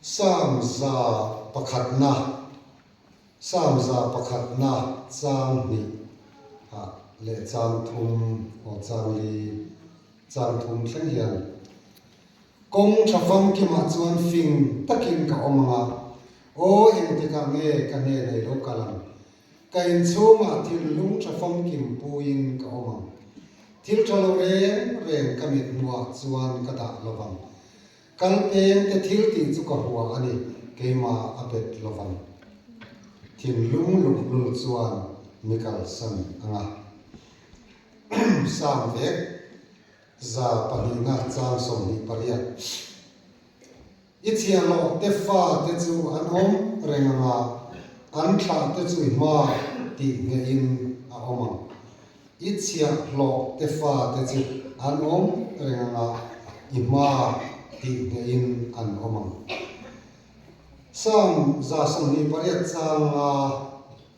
Psalm za pakhatna, Psalm za pakhatna, chang hnih a leh chang thum aw chang li chang thum thleng hian kawng tha famkim ah chuan fing takin ka awm ang a, aw engtikah nge ka hne nei lo kal ang Ka in chhungah thinlung tha famkim puiin ka awm ang. Thil tha lo reng reng ka mithmuah chuan ka dah lo vang. Kal peng te thil tih chu ka hua a ni, keimah a pet lo vang. Thinlung luhlul chuan mi kalsan a nga. Sam vek, za pahnih na chang sawmhnih pariat. I chhiah loh tefa te chu an awm reng ang a, an thlah te chu i hma tih ngeh in a awm ang. I chhiah hlawh tefa te chu an awm reng ang a, i hma tih ngeh in an awm ang. Salm za sawmhnih pariat changa.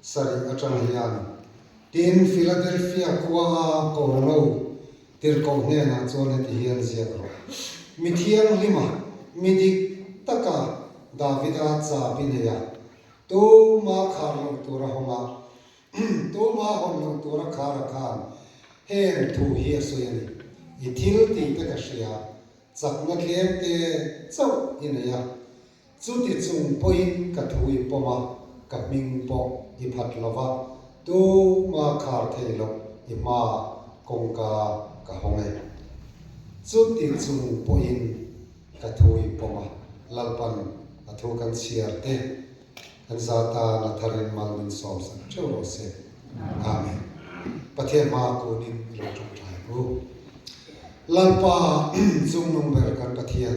sarih atang hian. Tin, Philadelphia khuaa Kawrngo tirhkoh hnenah chuan heti hian ziak rawh, Mi thianglima, mi dik taka Davida cha pi neia, tuma khar lo tura hawnga, tuma hawn lo tura khara khan heng thu hi a sawi a ni. I thil tihte ka hria, chakna tlemte chauh i neia. Chuti chung pawhin ka thu i pawm a, ka hming pawh i phat lo va, tu hma khar thei loh i hma kawngka ka hawng e. Chuti chung pawhin ka thu i pawm a, Lalpan a thu kan chhiar te, kan za tan a thar in mal min sawm sak theuh rawh se. Amen. Pathian hma kun in i lo tawngtai u. Lalpa, chungnung ber kan Pathian.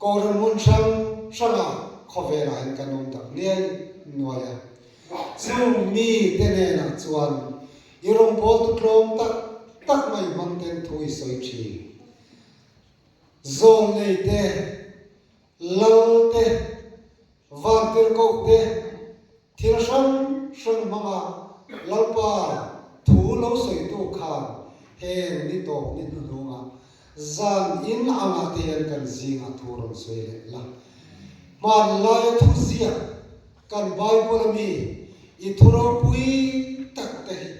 Kawlram hun hrang hranga khawvelah hian kan awm tak hliai nuai a. Chu mi te hnenah chuan i rawng pawl tu tlawm tak tak mai hmang ten thu i sawi thi. Zawl nei te, lal te, vangtir koh te, Thil hrang hrang hmanga Lalpa thu lo sawitu khan heng ni tawp ni hnuhnunga zan in a ngahteiin kan zingah thu rawn sawi leh la. Hmanlaia thu ziah kan Bible ami i thuropui takte hi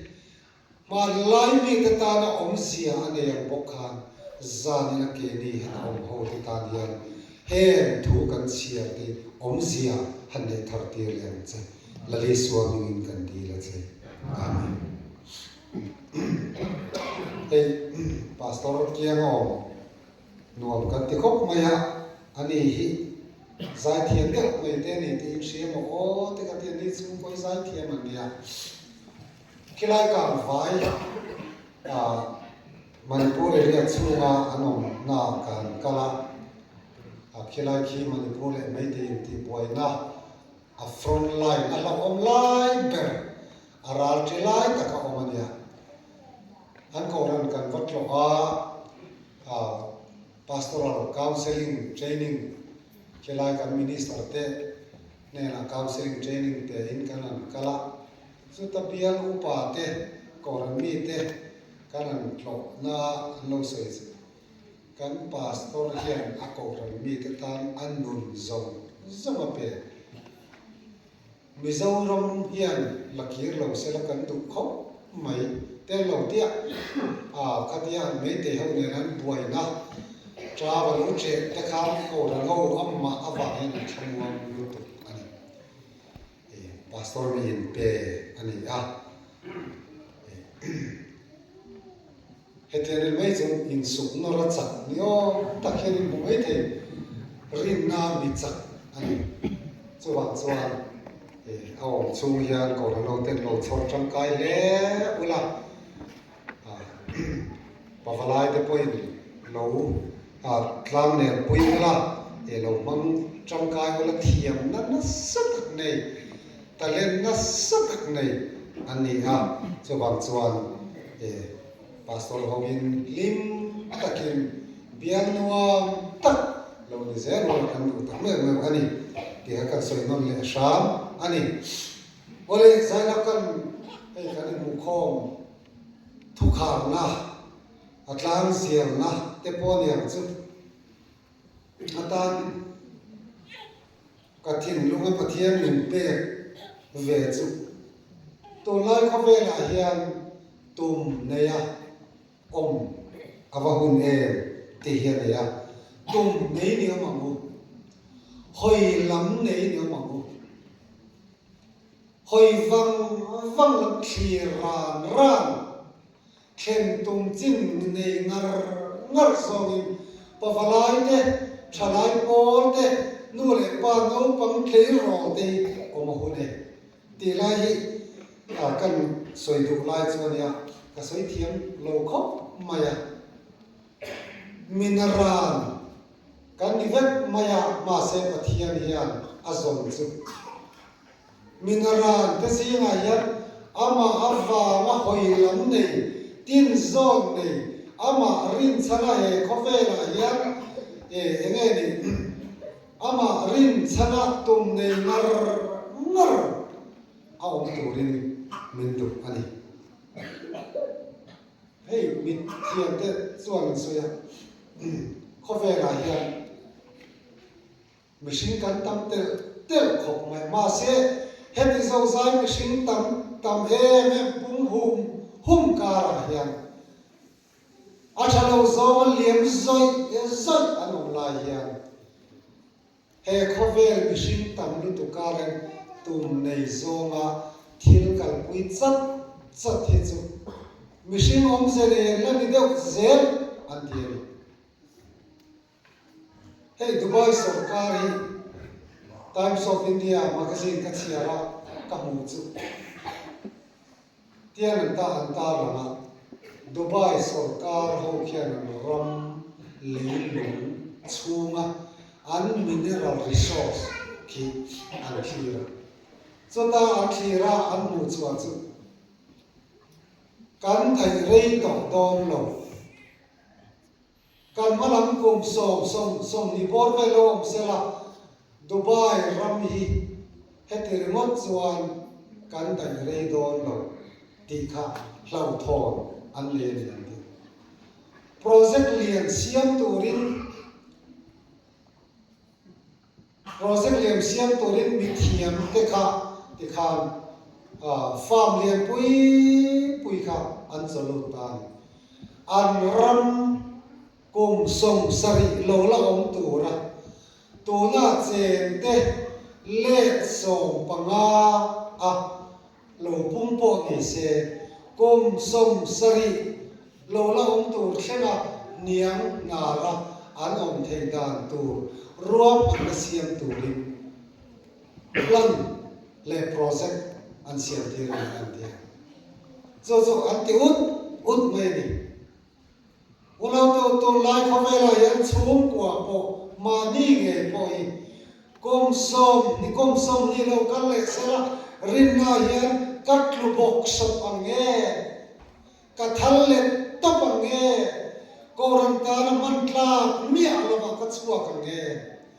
Hmanlai mite tan a awmzia a ner bawk khan zanin a ke ni han awm hote tan hian heng thu kan chhiar te awmzia han neih thar tir leh ang che. Lali Sual ningin kan dil a che. Amen. Hei Pastor kiang a awm nuam kan ti khawp mai a, a ni hi zaithiam deuh mai te a ni tiin hria maw aw te ka ti a, nichhung pawi zaithiam an nia. Khilai kang vai a Manipur area chhunga an awmna kan kal a, a khilai khi Manipur leh Meitei intihbuaina a front line a hlauhawm lai ber a ral ṭi lai tak a awm a nia. An kohhran kan va tlawh a, a Pastoral Counselling Training khilai kan Minister te, hnenah counselling training te in kan rawn kal a, chuta bial upa te Koran mi te kan rawn tlawh na an lo sawi zet a, kan pastor hian a Koran mi te tan a nun zawng zawng a pe, Mizoram hian lakir lo sela kan duh khawp. mai tel lo tiah a khat hian meitei ho nen an buaina ṭa va lo chet te kha aw ral ho amah avangin an thlamuang lutuk a ni. Hei pastor miin pe a ni a. Hetiang ri mai chu min suk nawra chak ni awm tak hian in hmu mai thei. Rinna mi chak a ni. Chuvang chuan a awm chhung hian kawr a lo ten lo chhawr tangkai hle ula pavalai te pawhin lo tlang nen pui ngala, lo hmang tangkai ula thiam nana sa tak nei. Talent nasa tak nei an ni a, chuvang chuan e Pastor hoin hlim takin bial nuam tak lo ni zel rual kan duh tak meuh meuh a ni tihah kan sawi nawn leh hram a ni. Awle zai lam kan hei kan inmukhawm thukharna, a tlang zirna te pawh niang chu atan, ka thinlung a Pathian min pek ve chu. Tunlai khawvelah hian tum neia awm ka va hun em tih hi a nei a, tum nei ni awm ang u, hawi lam nei ni awm ang u, hawi vang vang lam thlir ran ran, Thlen tum chin nei ngar ngar zawngin pavalai te, thalai pawl te, nu leh pa naupang tleirawl te hi awm a hun e. Tih lai hi a kan sawi duh lai chu a nia, ka sawi thiam lo khawp mai a. Mina ran kan ni vek mai a, mahse Pathian hian a zawn chu. Mina ran te zingah hian amah a vang a hawi lam nei, tin zawn nei, amah rinchhana he khawvelah hian eh eng nge ni umm amah rinchhana tum nei ngar ngar a awm turin min duh a ni. Hei mithiam te chuan min sawi a umm khawvelah hian. Mihring kan tam telh telh khawp mai. Mahse, heti zozai mihring tam tam em em pung hum hum karah hian a tha lo zawnga liam zawih zawih an awm lai hian he khawvel mihring tam lutuk a reng tum nei zawnga thil kalpui chawt chawt hi chu mihring awmze nen la ni deuh zel an ti a ni. Hei Dubai sorkarin Times of India magazine ka chhiar a ka hmuh chu tian an ta han tar lang a, Dubai sorkar ho khian ram leilung chhunga an mineral resource khi an thlir a. Chuta an thlir a an hmuh chhuah chu kan theih rei tawh dawn lo Kan hmalam kum sawm sawm sawm ni bawr vel lo awm sela, Dubai ram hi heti ringawt chuan kan daih rei dawn lo tih kha hlauhthawn an nei a ni ang tih. Project lian siam turin Project lem siam turin mithiam te kha ti khan farm lianpui pui kha an chaw lut ta a ni. An ram kum sawm sarih lo la awm tura tunah chen te leh sawm panga a Lo pum pawh ni se, kum, sawm, sarih lo la awm tur thlengah niang nara an awm thei dan tur rual hman la siam turin plan leh project an siamtir a ni kan ti a. Chu chu an ti ut ut mai a ni. Ulotu tur lai khawvela hian chhungkuaa pawh mahni nge pawh hi kawng sawm ni kawng sawm ni lo kal leh se la, rinna hian ka tlu bawk sawp ang nge, ka thal let tawp ang nge, Kohhran tana hman tlak miah lamah ka chhuak ang nge.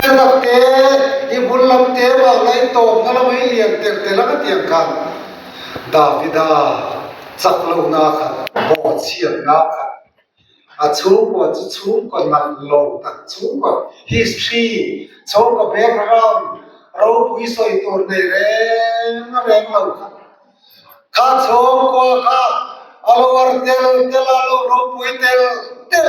Te rak te, i bul lam te mah la i tawp na lo i lian telh telh ang a tiang khan Davida chak lo na khat baw chhiat na khat a chhungkaw chu chhungkaw nalh lo tak chhungkaw history chhungkaw background ropui sawi tur nei reng reng lo khat kha chhungkaw kha a lo ar tel tel a lo ropui tel tel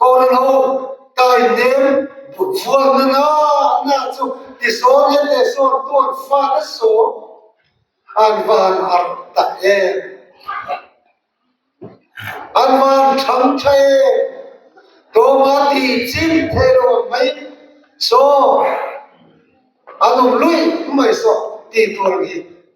Kawrin ho ka innem but fual nana na chu tisawn e tesawn tuan fat a sawm an van arh ta em an van chhang tha em tawma ti chim thei lo ang mai saw an awm luih mai saw ti tur ang hi.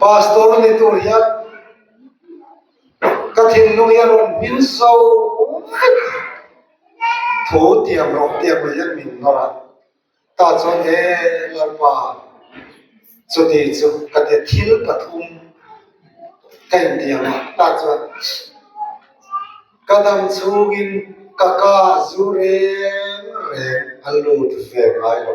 Pastor a nih tur hian ka thinlung hi a rawn hmin so vek a, thu tiam rawh tiam rawh hian min ngawrh a, tah chuan he lo pa chutih chu ka ti a thil pathum ka intiam a, tah chuan ka dam chhungin ka ka zu reng reng a lut ve ngai lo.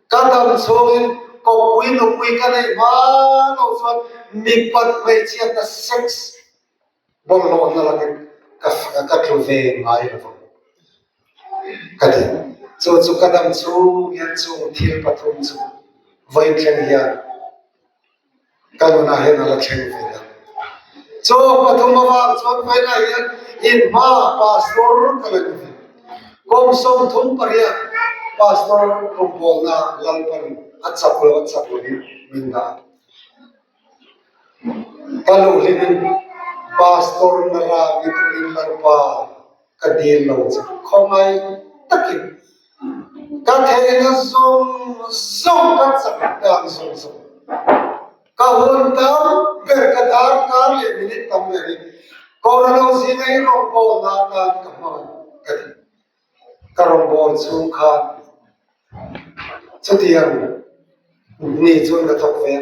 Ka dam chhungin kawppui nupui ka neih hma loh chuan mipat hmeichhia ka sex bawrhlawh na lakin ka tlu ve ngai lo vang ka ti. Chu chu ka dam chhung hian chung thil pathum chu vawi thleng hian. ka nunah hian a la thleng ve a, chaw pathum avang chuan paihna hian in hma pastor ka la ni ve, kawng sawmthum pariat pastor rawpawlna lalpa in a chak lo a chak lo in min dah a, ka luhhlin in pastor na rami turin lalpa, Ka dil lo che khawngai takin ka theihna zawng zawng ka chak dan zawng zawng. Ka hun tar ber ka dar tar leh minute tam mai hi Corona zinga i rawngbawr na atan ka hman ka ti. Ka rawngbawr chhung khan chutiang ni chuan ka thawk ve a.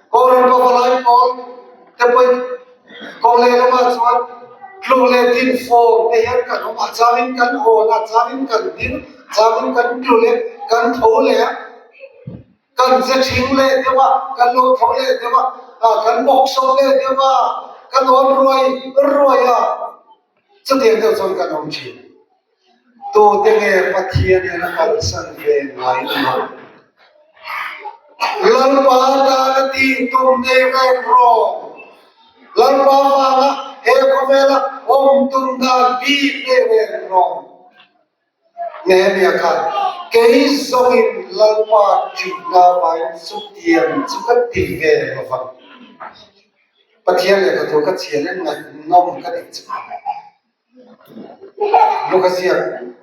Kawng rin pawh ka laih awm, te pawhin kawng leh lamah chuan tluk leh tin fawm te hian kan awm a, changin kan awn a, changin kan ding, changin kan tlu leh kan tho leh a, kan ze thing leh deuh a, kan lo tho leh deuh a, ah kan bawk sawm leh deuh a, kan awn ruai ruai a, chutiang deuh chuan kan awm thin. Tawte nge Pathian in a kalsan ve nuai ni lo? Lalpa dan a ti tum nei reng rawng. Lalpa vanga he khawvela awm tum dan bik nei reng rawng. Nehemiah kha kei zawngin Lalpa ṭihna vain chutiang chu ka ti ve lo vang. Pathian leh ka tur ka chian in ngaihtuhnawm ka nih chu. Lawk a ziak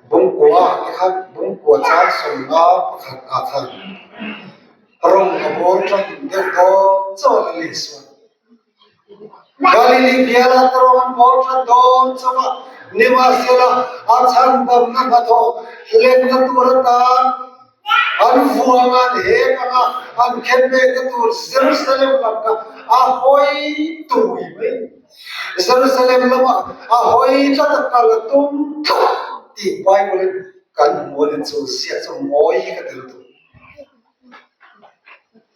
bawng kua ah te khan bawng kua chang sawmnga pakhat ah khan rawng a bawr ṭahim deuh dawn chuan a leh sual. Galili bial ah te rawng an bawr ṭha dawn chauh a, nimahsela a chhang damna hnathawh hlenna tur atan. An vuanga leh anga an khen mek na tur Jerusalem lam kha a hawi tui mai. Jerusalem lam ah a hawi tlat a kal a tum tlat tih Bible in kan hmuh a ni chu ziah chu mawi ka ti lutuk.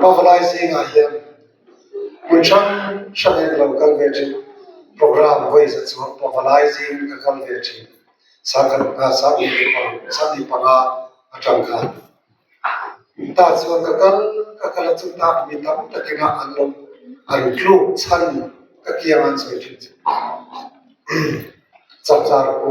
Pavalai zingah hian hmun hrang hrang in ka lo kal ve thin. Program vawi zet chuan Pavalai zing ka kal ve thin. Sahni panga a tangkai. Tah chuan ka kal ka kal a chung tak mi tam tak in an lo an tluk chhan ka kiang an sawi thin chu. Chawpchar pu.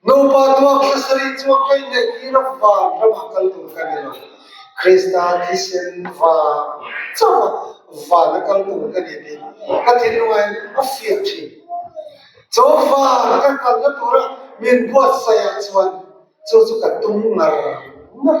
Nupa tuak hlasari chu a keng leh tir a vang ramah kal tur ka ni lo. Krista thisen vang chauha van a kal tur ka ni tih ka thinlungah hian a fiah thin. Chaw van ka kalna tura min buatsaih ah chuan chu chu ka tum ngar ngar.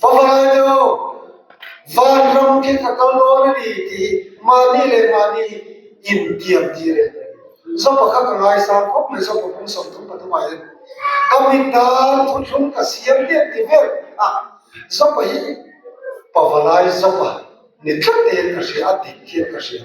Fangalainei aw, van ram khi ka kal dawn a ni tih mahni leh mahni in diam tir e. Zaw pakhat ka ngaisam khawp mai zaw pathum sawm dum pathum ah hian ka mit dan thutthleng ka siam diam ti ber a. Zaw pahnih pavalai zaw pah ni tlat te hian ka hria a dik hian ka hria.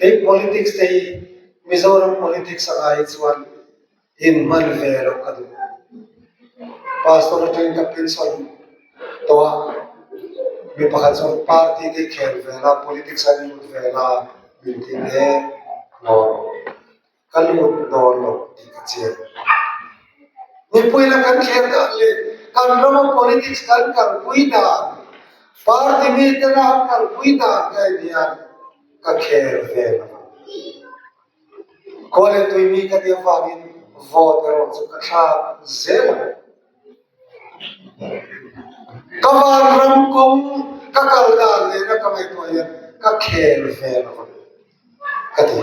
Hei politics te hi Mizoram politics a ngai chuan in hman ve lo ka duh. Pastor aṭang in ka pin sawn tawh a, mi pakhat chuan party te khel ve la politics a nih hmel ve la min ti hle maw? ka lut dawn lo tih ka chian. Mipui la kan kher dan leh kan rama politics kan kalpui dan, party mi te la an kalpui dan daih hian ka kher ve lo. Khuale tui mi ka tia vangin vote erawh chu ka thlak zel ang. Ka vanram kawng ka kal dan lehna ka ngaihtuah hian ka kher ve lo ka ti.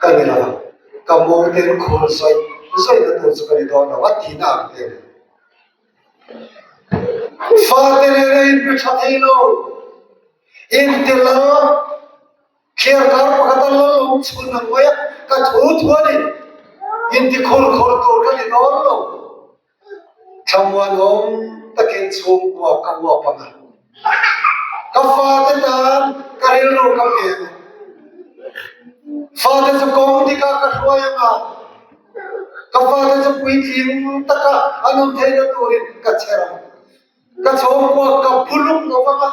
Ka nih a, ka mawng ten khawl zawih zawih na tur chu ka ni dawn lo a tihna ang te a ni. Fate nen a inpe tha thei lo, inte la kher kar pakhat a lal awm chhun ang mai a, ka thu thu a ni, inti khur khur tur ka ni dawn lo. Tlangval awm takin chhung kuah ka huap ang a, ka fate tan ka rilru ka pe ang a, fate chu kawng dikah ka hruai ang a, ka fate chu puitling taka an awm theih na turin ka chher ang, ka chhawng kuah ka bu luk lo vang a,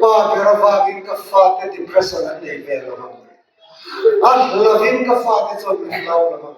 pa ber avangin ka fate depression an nei ve lo vang, a hlavin ka fate chuan min hlau lo vang.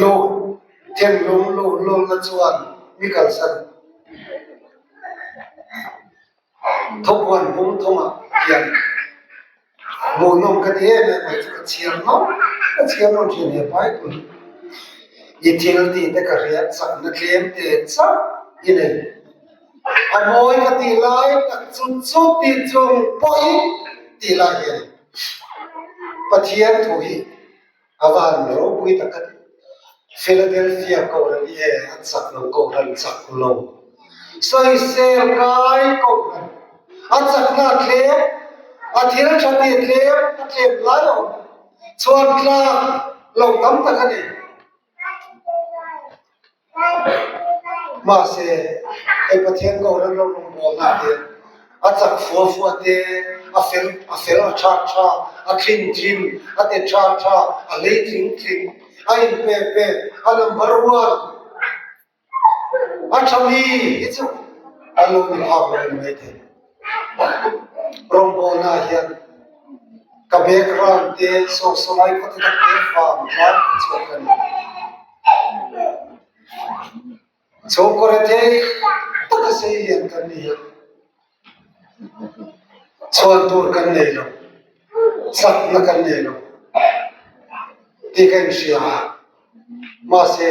Loh thenlung loh lawmna chuan mi kalsan thawmhnaw pum thawm ah hian loh nawm ka ti em em mai chu ka chhiar nawm ka chhiar nawm thin ve pai pawh hi i thil ti te ka hriat chak na tlem te chauh i nei a nawi ka tih lai tak chung chu tih chung pawi tih lai hi a ni. Pathian thu hi a van ropui tak a ni. Philadelphia kohhran hi hei a chak lo kohhran chak lo sawisel kai kohhran a chakna a thlem a thil tha te tlem a tlem hlai a awm chhuan tlak lo tam tak a ni. Mahse, hei Pathian ko remlo rawn bawmna hian a chak fual fuah te, a fel a fel a ṭhak ṭhak, a ṭhin ṭhin, a te ṭhak ṭhak, a hlei tling tling, a inpek pek, a number one. An chhang hi hi chu an lo ni phak lo em mai thei. Rawngbawnah hian ka background te sawi sawi lai khaw tak te vang tlar tha chuan ka ni. Chhawngkaw rethei taka sei hian kan ni a, chhuan tur kan nei lo, sakna kan nei lo tih ka inhria a, mahse,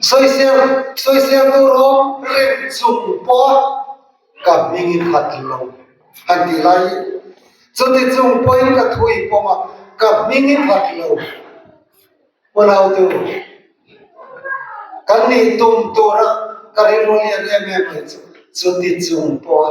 Sawiziaktu rawng reng chung pawh ka hming i khat lo han ti lai. Chuti chung pawhin ka thu i pawm a, ka hming i khat lo. Unaute, kan nih tum tura ka rilru lian em em mai chu, chuti chung pawha.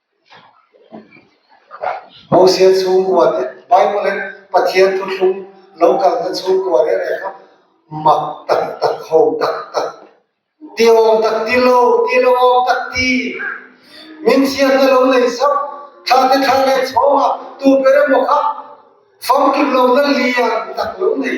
Hosea chhungkua te, Bible in Pathian thutthlum lo kalna chhungkua reh reh kha mak tak tak, ho tak tak, tiawm tak, tilo tilo awm tak ti min chhiatna lo nei zauh. Thla te thla leh chhawng ah tuper emaw kha famkim lawmna lian tak lo nei.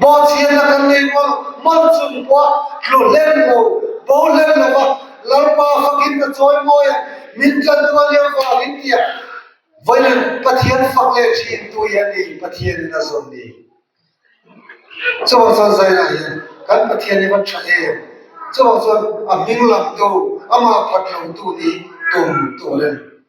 Paw chianna kan nei nual man chung pawha tlu hlem lo, bo hlem lo va, Lalpa fakin a chawi mawi ang, min tlan tua lio fak in tia vawiin Pathian fak leh thi in tu hi a ni, Pathian in a zawn ni. Chuvang chuan zainah hian kan Pathian hi va tha em, chuvang chuan a hming lam tu, amah phat lo tu ni tum tur a ni.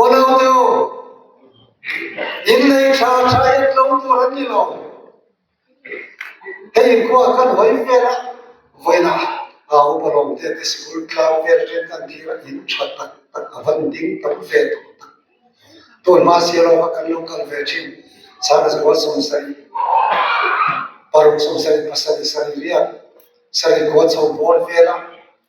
Aw naute aw, in lei tha tha en lo tur an ni lo. Hei in khua kan hawi vel a, vawiina aa awm alawm te te sikul tlang vel vel te an nih hi in tha tak tak a van ding tam ve tawh ta. Tawn mahse erawh kan lo kal ve thin, Sana Zawal Sawmsarih, Paruk Sawmsarih pasarih sarih riat, sarih khua chho pawl vel a,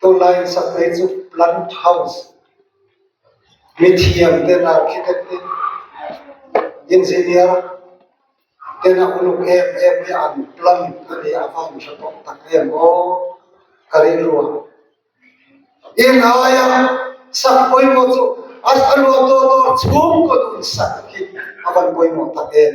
Chu lai in sak phei chu plant house mi thiam ten architect te engineer tena uluk em em hi an plant a ni a va hre tawh tak em aw ka rilru a in aia sak pawimawh chu a luah tawh tawh chhung kaw nun sak hi a van pawimawh tak em.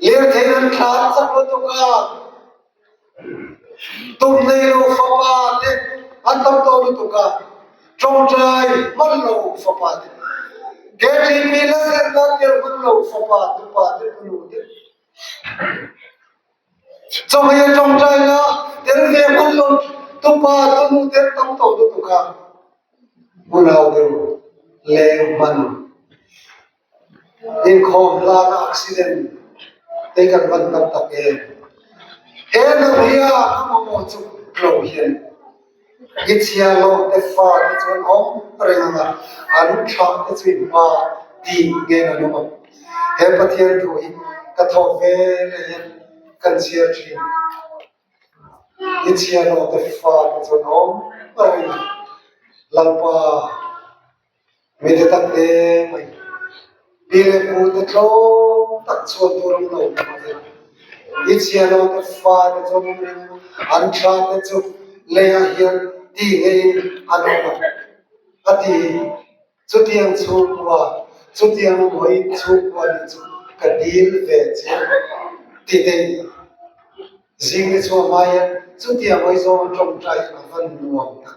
Lirthei an thlan chak lutuk a, tumnei lo fapa te an tam tawh lutuk a, tawngtai hman lo fapa te, Catherine mi la zirna tir hman lo fapa tupa te hmu lo deuh. Chawhmeh a tawngtai na tir ve hman lo tupa tunu te an tam tawh lutuk a, Bulauber leng hman. Inkhawm hlana accident te kan van tam tak e. He lo hia ka hmu maw chu lo hian i chhia lawmte fa te chuan awm reng ang a, an thlah te chu i hma tih nge ka duh ang. He Pathian thu hi ka thawk ve le hian kan chhiar thin i chhia lawmte fa te chuan awm reng ang. Lalpa. Mite tak te mai pi leh pu te tlawm tak chhuat tur an lo awm a nia. I chhia lo te fa te chuan in ring an tha te chu lei ah hian ti ngeiin an awm a a ti hi chutiang chhungkua chutiang hawi chhungkua nih chu ka dil ve chiang ti daih a ni. Zingte chu a hmai ah chuan chutiang hawi zawng a tawngtai in a van nuam tak.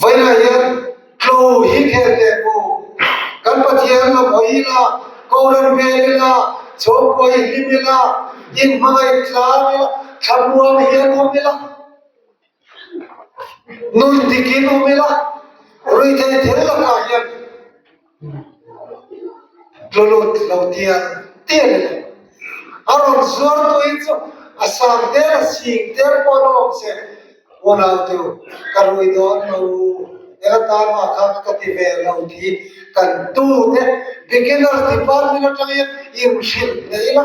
Vawilah hian tlo hi kher leh u. Kan Pathian lo hawi ila, ko ran hmel ila, chhawm kuai hlim ila, in hmangaih tlar ila, thlamuam hian um ila, nuih dik in um ila, rui thei thel lakah hian. Tlulut lo tiang tiang in a rawn zuar tawh in chu a sang tel a sing tel pawh a lo awm che. Unaute u, ka rui dawn lo u, eng atan mah kha ka ka ti ve lo tih hi kan tute beginners department atang hian in hrilh theih ila.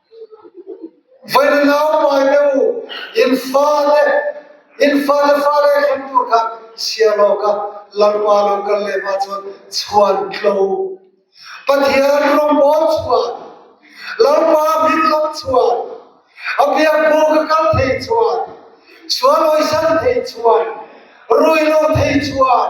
Vawiin lau pai deuh u, in fale in fale fale a thleng tur khan siam awk a, Lalpa a lo kal leh mah chuan chhuan tlo Pathian rawngbawl chhuan Lalpa hming lam chhuan a biak buk a kal thei chhuan chhuan awihsan thei chhuan ruih lo thei chhuan.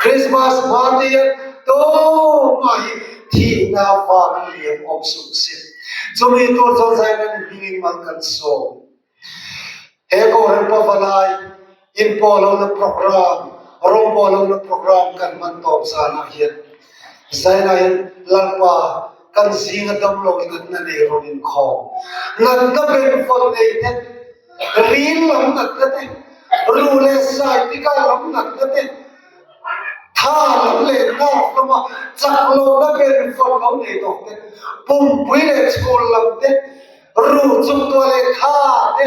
Krismas hmate hian tawng mah hi thihna vang lian awm sung si. Chumi tur chuan Zainani hmingin man kan sawm. He Kohhran Pavalai in pawh lohna programme, rawng pawh lohna programme kan hman tawp zanah hian Zaina hian Lalpa, kan zing a tam lo inatna nei rawn inkhawm. Natna ber fawt nei te, ril lam natna te, ruh leh sai tika lam natna te, tha lam leh nawk lama chak lohna ber fawt lo nei tawk te, pumpui leh chhul lam te, ruh chuktua leh tha te,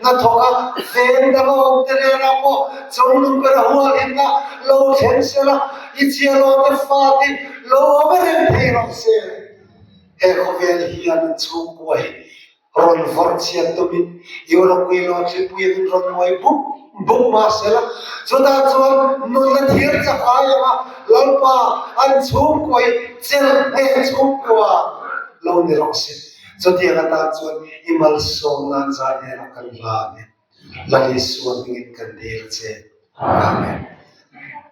Hnathawk a feng dang awk te nena pawh chawng lung ber a hual in a lo thlen sel a, i chialawte fa tih lo awm e reng thei rawh se. He khawvel hian chhungkua hi rawn vawr chhiat tumin Europe uiloa thlipui angin rawn nuai buk buk mah sel a, chutah chuan nawlna thiar chak ai ang a, Lalpa an chhungkua hi chel ngeh chhung deuh a lo ni rawh se. Chutiang ata chuan i malsawm nan zai erawh kan hlan e. Lal Isua hmingin kan dil che. Amen.